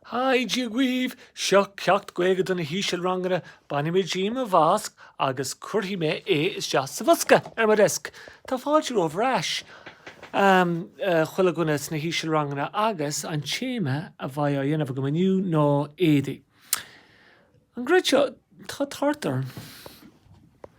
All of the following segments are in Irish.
Haigh, Dia dhaoibh! Seo ceacht Gaeilge do na hísealranganna, bainfidh mé díom mo mhasc agus cuirfidh mé isteach sa bhosca é ar mo dheasc. Tá fáilte romhaibh ar ais, chuile dhuine sna hísealranganna agus an téama a bheidh á dhéanamh agam inniu ná éadaí. An gcreidfeá, tá tart orm!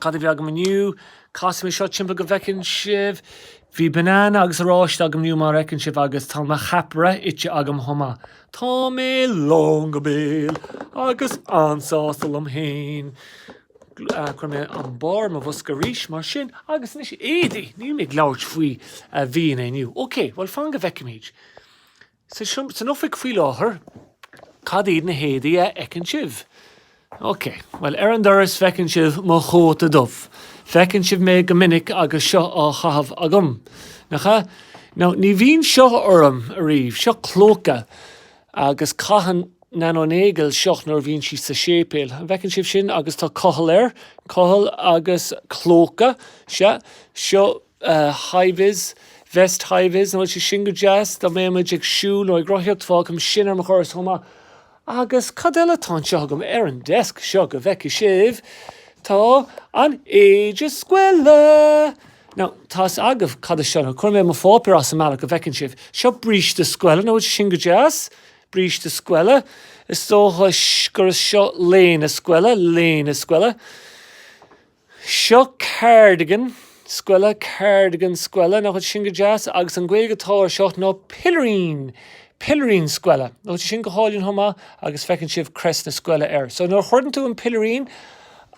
Cad a bhí agam inniu? Casfaidh mé seo timpeall go bhfeiceann sibh. Bhí banana agus oráiste agam inniu mar a fheiceann sibh agus tá mo cheapaire ite agam chomh maith. Tá mé lán go béal agus an-sásta liom féin. Cuirfidh mé an barr ar mo bhosca arís mar sin agus anois éadaí! Níl mé ag labhairt faoi bhia inniu. Ok, bhuel fan go bhfeicfimid. san oifig faoi láthair. Cad iad na héadaí a fheiceann sibh? Ok, bhuel, ar an doras feiceann sibh mo chóta dubh. Feiceann sibh mé go minic agus seo á chaitheamh agam, nach ea? Now, ní bhíonn seo orm ariamh. Seo clóca. Agus caitheann Nano Nagle seo nuair a bhíonn sí sa séipéal. An bhfeiceann sibh sin? Agus tá cochall air. Cochall agus clóca. Sea, seo high vis, vest high vis, nach bhfuil sé sin go deas? dá mbeadh muid ag siúl nó ag rothaíocht fágaim sin ar mo dhoras chomh maith agus cad eile atá anseo agam ar an desk seo go bhfeicfidh sibh tá an éide scoile now tá 'fhios agaibh cad é seo now cuirfidh mé mo pháipéar as an mbealach go bhfeiceann sibh seo bríste scoile nach bhfuil sé sin go deas? bríste scoile is dócha gur seo léine scoile léine scoile. Seo cardigan, scoile, cardigan, scoile, nach bhfuil sin go deas? Agus an Ghaeilge atá air seo ná pilirín, pilirín scoile. Nach bhfuil sin go hálainn chomh maith? Agus feiceann sibh crest na scoile air. So nuair a chuireann tú an pilirín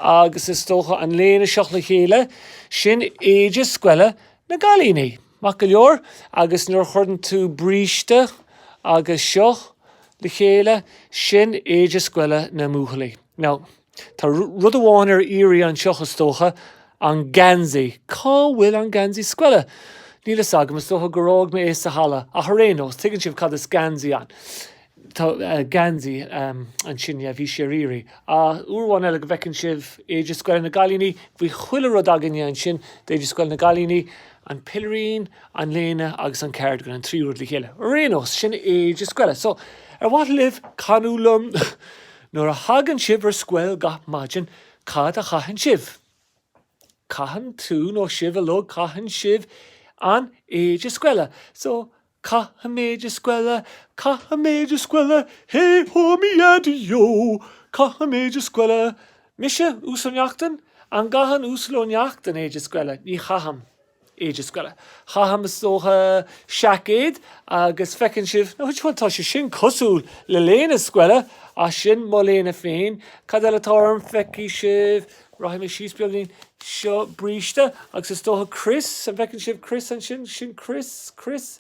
agus is dócha an léine isteach le chéile, sin éide scoile na gcailíní. Maith go leor. Agus nuair a chuireann tú bríste agus seo le chéile, sin éide scoile na mbuachaillí. Now. Tá rud amháin ar iarraidh anseo, is dócha, an geansaí. Cá bhfuil an geansaí scoile? Níl fhios agam, is dócha gur fhág mé é sa halla, ach ar aon nós, tuigeann sibh cad is geansaí ann. Tá geansaí ansin, yeah, bhí sé ar iarraidh. Ah, uair amháin eile go bhfeiceann sibh éide scoile na gcailíní, bhí chuile rud againne ansin d'éide scoile na gcailíní, an pilirín, an léine agus an cardigan, na trí rud le chéile. Ar aon nós, sin éide scoile. So, ar mhaith libh canadh liom? Nuair a thagann sibh ar scoil gach maidin, cad a chaitheann sibh? Caitheann tú nó sibh ar ndóigh Caitheann sibh an éide scoile. So, Caithim éide scoile Caithim éide scoile Hé hó mi ya di yo Caithim éide scoile Mise Uasal Ó Neachtain? An gcaitheann Uasal Ó Neachtain éide scoile? Ní chaitheann. éide scoile. Caithim, is dócha, seaicéad agus feiceann sibh, nó bhuel, tá sé sin cosúil le léine scoile ach sin mo léine féin. Cad eile atá orm? Feicfidh sibh, rachaidh mé síos beagáinín, seo bríste agus is dócha crios, an bhfeiceann sibh crios ansin? Sin crios, crios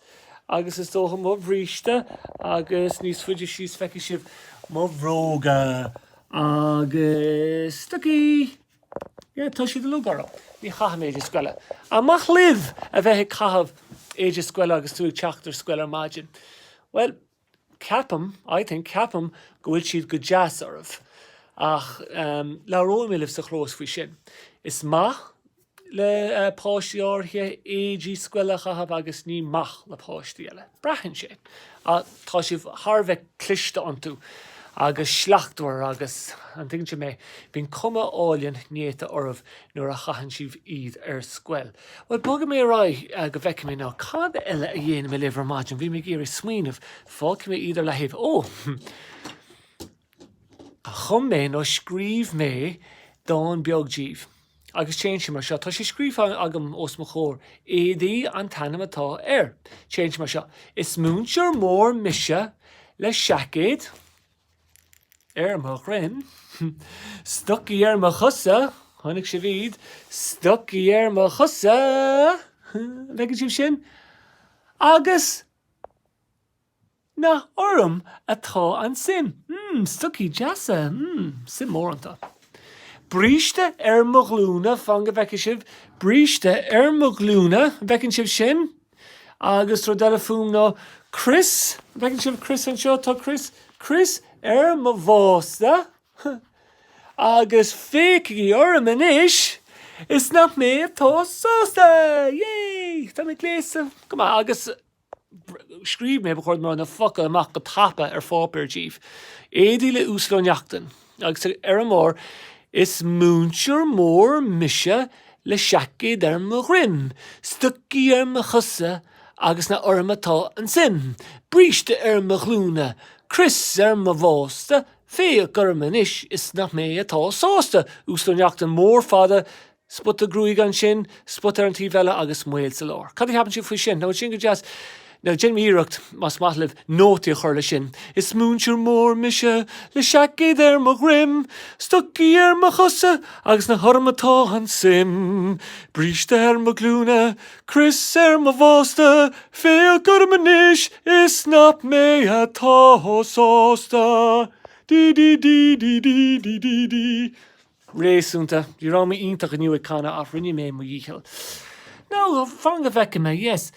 agus is dócha mo bhríste agus níos faide síos feicfidh sibh mo bhróga agus stocaí. Yeah, tá siad uilig orm. Ní chaithim éide scoile. An maith libh a bheith ag caitheamh éide scoile agus tú ag teacht ar scoil ar maidin? Bhuel, ceapaim, I think, ceapaim go bhfuil siad go deas oraibh. Ach em, labhróidh mé libh sa chlós faoi sin. Is maith le eh, páistí áirithe éidí scoile a chaitheamh agus ní maith le páistí eile. Braitheann sé. Ach tá sibh thar a bheith cliste iontu, agus slachtmhar agus, an dtuigeann tú mé, bíonn cuma álainn néata oraibh nuair a chaitheann sibh iad ar scoil. Bhuel, bogfaidh mé ar aghaidh go bhfeicfidh mé ná cad eile a dhéanfaidh mé libh ar maidin. Bhí mé ag iarraidh smaoineamh. Fágfaidh mé iad ar leathaobh. Ó! Chum mé, nó scríobh mé, dán beag daoibh. agus téann sé mar seo, tá sé scríofa agam os mo chomhair, Éadaí an t-ainm atá air. Téann sé mar seo, Is múinteoir mór mise le seaicéad ar mo dhroim, stocaí ar mo chosa, chonaic sibh iad, stocaí ar mo chosa, an bhfeiceann sibh sin? agus. Nach orm atá an tsuim? mm, stocaí deasa, mm, suim mhór iontu. Bríste ar mo ghlúine, fan go bhfeice sibh, bríste ar mo ghlúine, an bhfeiceann sibh sin? Agus rud eile fúm ná crios, an bhfeiceann sibh crios anseo, tá crios, crios ar mo bhásta. Agus féachaigí orm anois is nach mé atá sásta! Yay! Tá mé gléasta go maith agus. scríobh mé, ba chóir dom a rá na focail amach go tapa ar pháipéar daoibh. Éadaí le Uasal Ó Neachtain. Agus ar an mbarr, Is múinteoir mór mise le seaicéad ar mo dhroim, stocaí ar mo chosa agus nach orm atá an tsuim, bríste ar mo ghlúine, crios ar mo bhásta, féach orm anois is nach mé atá sásta. Uasal Ó Neachtain, mór fada, spota gruaige ansin, spota ar an taobh eile agus maoil sa lár. Cad a cheapann sibh faoi sin? Nach bhfuil sé sin go deas? Now, déanfaidh mé iarracht, más maith libh, nótaí a chur leis sin. Is múinteoir mór mise, le seaicéad ar mo dhroim, stocaí ar mo chosa agus nach orm atá an tsuim. Bríste ar mo ghlúine, crios ar mo bhásta, féach orm anois is nach mé atá sásta. Dí dí dí dí dí dí dí dí. réasúnta. Ní raibh mé iontach inniu ag canadh ach rinne mé mo dhícheall. Now, fan go bhfeice mé, yes.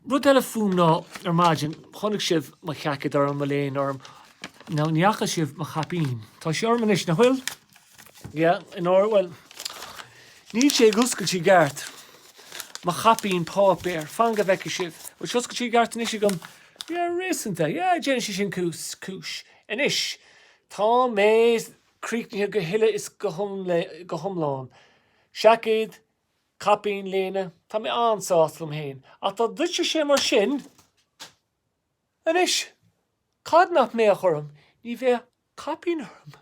Rud eile fúm ná, ar maidin, chonaic sibh mo sheaicéad orm, mo léine orm. Now, ní fhaca sibh mo chaipín. Tá sí orm anois, nach bhfuil? Yeah, in airde, bhuel, níl sé ag oscailt i gceart, mo chaipín páipéir. Fan go bhfeice sibh. Bhfuil sé oscailte i gceart anois agam? Yeah, réasúnta. Yeah, déanfaidh sé sin cúis. Anois, tá mé. críochnaithe go huile is go hiomlán. Seaicéad, caipín, léine, tá mé an-sásta liom féin. Ach dá dtuitfeadh sé mar sin anois, cad nach mbeadh orm? Ní bheadh caipín orm.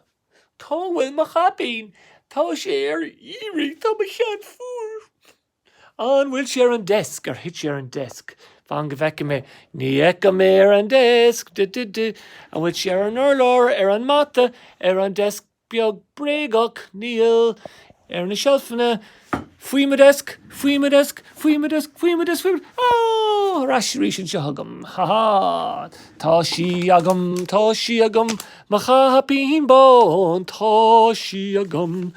Cá bhfuil mo chaipín? Tá sé ar iarraidh. Tá mo cheann fuar. An bhfuil sé ar an desk? Ar thit sé ar an desk? Fan go bhfeice mé. Ní fheicim é ar an desk. Duh, duh, duh. An bhfuil sé ar an urlár? Ar an mata? Ar an desk beag bréagach? Níl. Ar na seilfeanna? Faoi mo desk? Faoi mo desk? Faoi mo desk? Faoi mo desk? Faoi mo. Ó! Ar ais arís anseo agam. Ha ha! Tá sí agam. Tá sí agam. Mo chaipín bán, tá sí agam.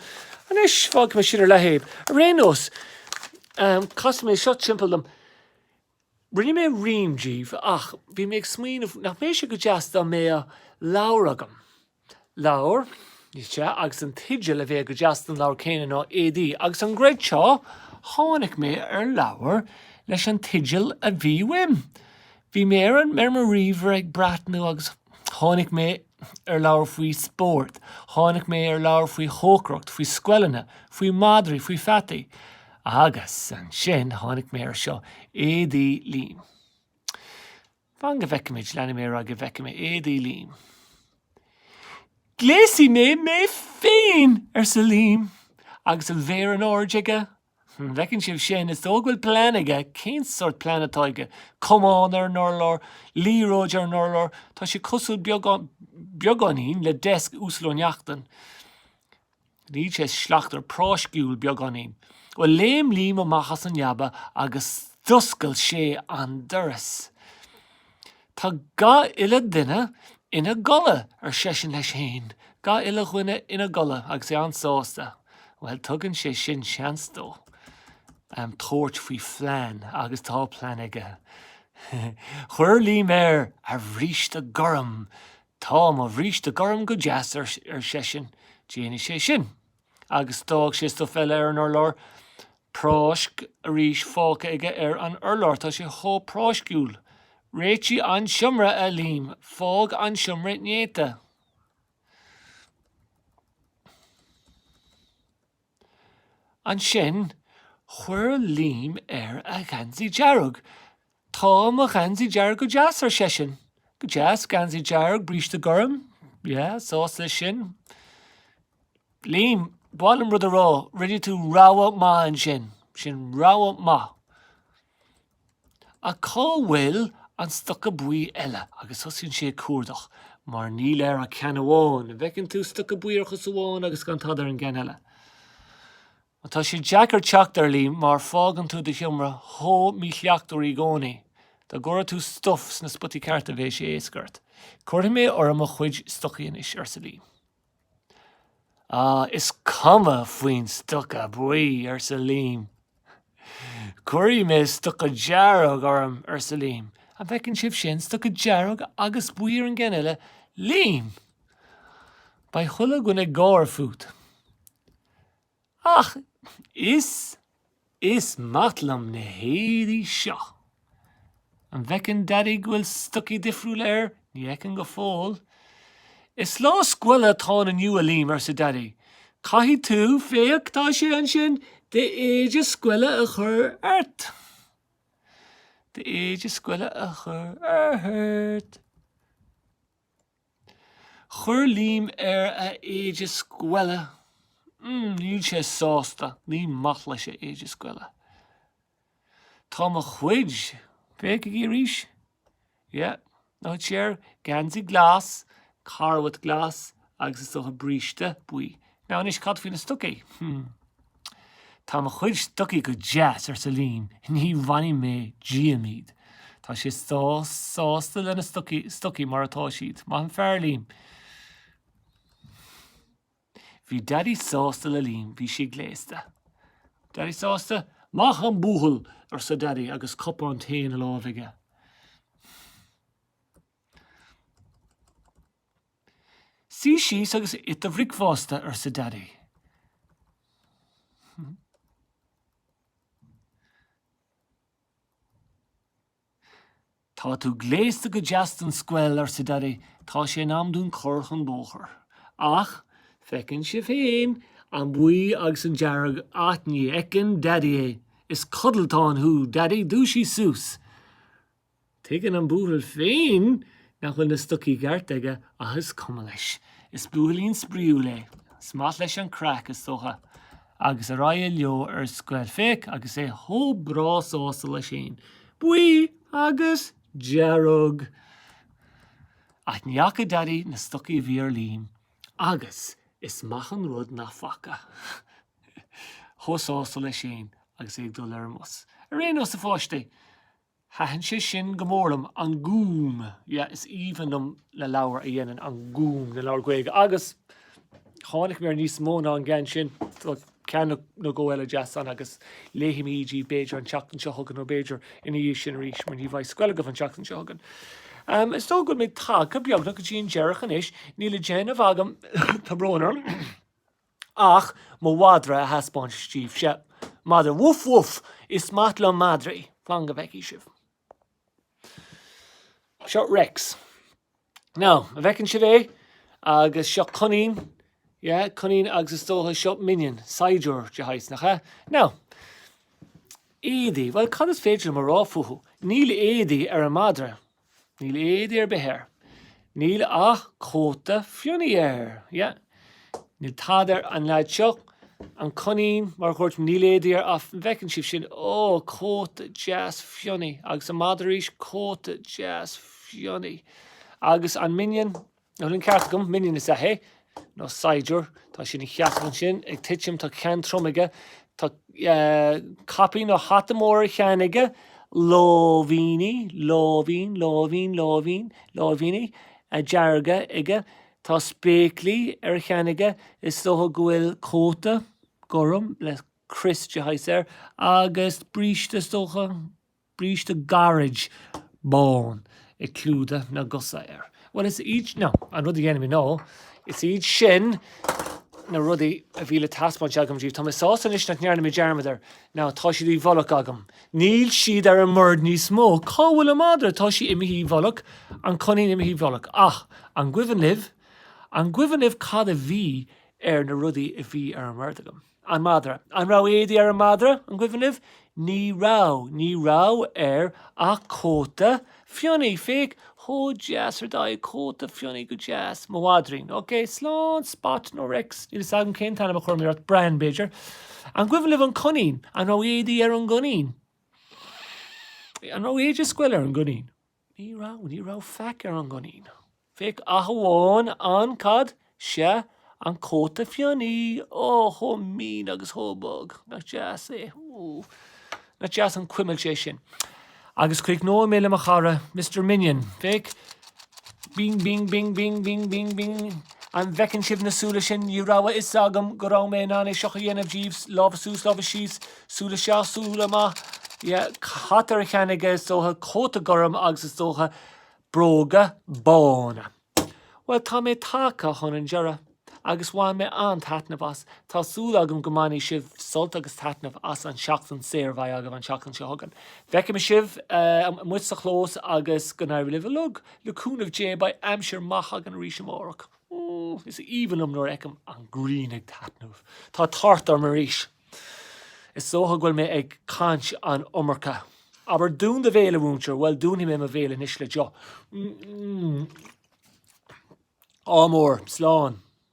Anois, fágfaidh mé sin ar leataobh. Ar aon nós, casfaidh mé seo timpeall liom. Rinne mé rím díobh ach bhí mé ag smaoineamh nach mbeadh sé go deas dá mbeadh leabhar agam. Leabhar, rté, agus an teideal a bheadh go deas don leabhar céanna ná Éadaí agus an gcreidfeá seo, tháinig mé ar leabhar leis an teideal a bhí uaim. Bhí mé ar an ar mo ríomhaire ag breathnú agus tháinig mé ar leabhar faoi spórt, tháinig mé ar leabhar faoi chócaireacht, faoi scoileanna, faoi mhadraí, faoi pheataí. Agus ansin tháinig mé air seo, Éadaí Liam. Fan go bhfeicfimid, leanfaidh mé ar aghaidh go bhfeicfidh mé, Éadaí Liam. Gléasfaidh mé mé féin! arsa Liam agus a mhéar in airde aige An bhfeiceann sibh sin? Is dóigh go bhfuil plean aige. Cén sórt plean atá aige? Camán ar an urlár? Liathróid ar an urlár? Tá sé cosúil beagáinín le desk Uasail Ó Neachtain. Níl sé slachtmhar, práisciúil beagáinín. Bhuel, léim Liam amach as an leaba agus d'oscail sé an doras. Tá gach uile dhuine ina gcodladh, ar seisean leis fhéin, gach uile dhuine ina gcodladh agus é an-sásta. Bhuel, tugann sé sin seans dó tabhairt faoi phlean agus tá plean aige. Chuir Liam air a bhríste gorm. Tá mo bhríste gorm go deas, ar seisean, déanfaidh sé sin. Agus d'fhág sé stuif eile ar an urlár. Práisc arís fágtha aige ar an urlár. Tá sé chomh práisciúil. Réitigh an seomra, a Liam. Fág an seomra néata. Ansin chuir Liam air a gheansaí dearg. 'Tá mo gheansaí dearg go deas, ar seisean. 'Go deas, geansaí dearg, bríste gorm. Yeah, sásta leis sin. Liam, ba mhaith liom rud a rá, 'Rinne tú rogha maith ansin. Sin rogha maith. Ach cá bhfuil an stoca buí eile? Agus tosaíonn sé ag cuardach, mar níl air ach ceann amháin. An bhfeiceann tú stoca buí ar chos amháin agus gan tada ar an gceann eile? Tá sé deacair teacht air, a Liam, mar fágann tú do sheomra chomh míshlachtmhar í gcónaí, dá gcuirfeadh tú stuif sna spotaí cearta bheadh sé éasca ort. Cuirfidh mé orm mo chuid stocaí anois, arsa Liam. Ah, is cuma faoin stoca buí, arsa Liam. Cuirfidh mé stoca dearg orm, arsa Liam. An bhfeiceann sibh sin, stoca dearg agus buí ar an gceann eile? Liam! Beidh chuile dhuine ag gáire fút. Ach is is maith liom na héadaí seo. An bhfeiceann Daidí go bhfuil stocaí difriúla air? Ní fheiceann go fóill. Is lá scoile atá ann inniu, a Liam, arsa Daidí. Caithfidh tú, féach, tá sé ansin, d'éide scoile a chur ort. D'éide scoile a chur ort. Chuir Liam air a éide scoile. Níl sé sásta, ní maith leis a éide scoile. Tá mo chuid, féachaigí arís, yeah, nó tá sé air, geansaí glas, carbhat glas agus is dócha bríste buí. Now anois cad faoi na stocaí? Tá mo chuid stocaí go deas, arsa Liam, ní bhainfidh mé díom iad. Tá sé sásta lena stocaí, stocaí mar atá siad. Maith an fear Liam. Bhí Daidí sásta le Liam, bhí sé gléasta. Daidí sásta? Maith an buachaill, arsa Daidí agus cupán tae ina láimh aige. Suí síos agus ith do bhricfeasta, arsa Daidí. Tá tú gléasta go deas don scoil, arsa Daidí, tá sé in am dúinn cur chun bóthair. Ach feiceann sibh féin an buí agus an dearg, ach ní fheiceann Daidí é. Is codlatán thú, Daidí, dúisigh suas! Tuigeann an buachaill féin nach bhfuil na stocaí cearta aige ach is cuma leis. Is buachaillín spraíúil é. Is maith leis an craic, is dócha. Agus ar aghaidh leo ar scoil, féach, agus é chomh breá sásta leis féin. Buí agus dearg! Ach ní fhaca Daidí na stocaí a bhí ar Liam agus is maith an rud nach bhfaca. Chomh sásta leis féin agus é ag dul ar an mbus. Ar aon nós, a pháistí! Thaithin sé sin go mór liom, An Gúm, yeah, is aoibhinn liom na leabhair a dhéanann An Gúm, na leabhair Gaeilge, agus tháinig mé ar níos mó ná an gceann sin, so ceann nó dhó eile deas ann agus léifimid díbh b'fhéidir an tseachtain seo chugainn nó b'fhéidir ina dhiaidh sin arís mar ní bheidh scoil agaibh an tseachtain seo chugainn. Am, is dóigh go bhfuil mé tagtha beagnach go dtí an deireadh anois, níl le déanamh agam, tá brón orm, Ach mo mhadra a thaispeáint díbhse. Madra, Woof woof! Is maith liom madraí. Fan go bhfeicfidh sibh. Seo Rex. Now, an bhfeiceann sibh é? Agus seo Coinín. Yeah, Coinín agus is dócha seo Minion, saighdiúir de shaghas, nach ea? Now, éadaí, bhuel, cad is féidir liom a rá fúthu? Níl éadaí ar an madra. Níl éadaí ar bith air. Níl ach cóta fionnaidh air. Yeah. Níl tada ar an leaid seo. An coinín, mar a dhúirt mé, níl éadaí air ach an bhfeiceann sibh sin? Oh, cóta deas fionnaidh. Agus an madra arís, cóta deas fionnaidh. Agus an minion? An bhfuil an ceart agam, minion is ea é, nó saighdiúir, tá sé ina sheasamh ansin, ag titim, tá ceann trom aige, tá caipín nó hata mór ar a cheann aige, láimhíní, láimhín, láimhín, láimhín, láimhíní, dearga aige, tá spéaclaí ar a cheann aige, is dócha go bhfuil cóta, gorm, le crios de shaghas air, agus bríste is dócha. bríste gairid bán ag clúdadh na gcosa air. Bhuel, is iad, no, an rud a dhéanaim, you know, is iad sin na rudaí a bhí le taispeáint agam díbh. Tá mé sásta anois nach ndearna mé dearmad air. Now, tá siad i bhfolach agam. Níl siad ar an mbord níos mó. Cá bhfuil an madra? Tá sí imithe i bhfolach, an coinín imithe i bhfolach. Ach, an gcuimhin libh, an gcuimhin libh cad a bhí ar na rudaí a bhí ar an mbord agam? an madra. An raibh éadaí ar an madra? an gcuimhin libh? Ní raibh. Ní raibh air ach cóta fionnaidh. Féach, chomh deas ar d'aghaidh, cóta fionnaidh, go deas. Mo mhadraín. Ok, slán, Spot nó Rex, níl 'fhios agam cén t-ainm a chuirim ort, Bran, b'fhéidir. An gcuimhin libh an coinín? An raibh éadaí ar an gcoinín? An raibh éide scoile ar an gcoinín? Ní raibh, ní raibh faic ar an gcoinín. Féach ach amháin an, cad, sea, an cóta fionnaidh. Ó, chomh mín agus chomh bog. Nach deas é. Ó, nach deas an cuimilt é sin. Agus críochnóidh mé le mo chara, Mister Minion. Féach. Bing, bing, bing, bing, bing, bing, bing. An bhfeiceann sibh na súile sin? Ní raibh a fhios agam go raibh mé in ann é seo a dhéanamh daoibhse. Lámha suas, lámha síos. Súil isteach, súil amach, yeah, cad atá ar a cheann aige is dócha, cóta gorm agus is dócha bróga bána. Bhuel, tá mé tagtha chun an deireadh agus bhain mé an-taitneamh as. Tá súil agam go mbainfidh sibh sult agus taitneamh as an tseachtain saor a bheidh agaibh an tseachtain seo chugainn. Feicfimid sibh, em, amuigh sa chlós agus go n-éirí libh uilig. Le cúnamh Dé, beidh aimsir maith againn arís amárach. Is aoibhinn liom nuair a fheicim an ghrian ag taitneamh. Tá tart orm arís. Is dócha go bhfuil mé ag caint an iomarca. Abair, Dún do bhéal, a mhúinteoir. Bhuel, dúnfaidh mé mo bhéal anois le deoch. Ádh mór. Slán.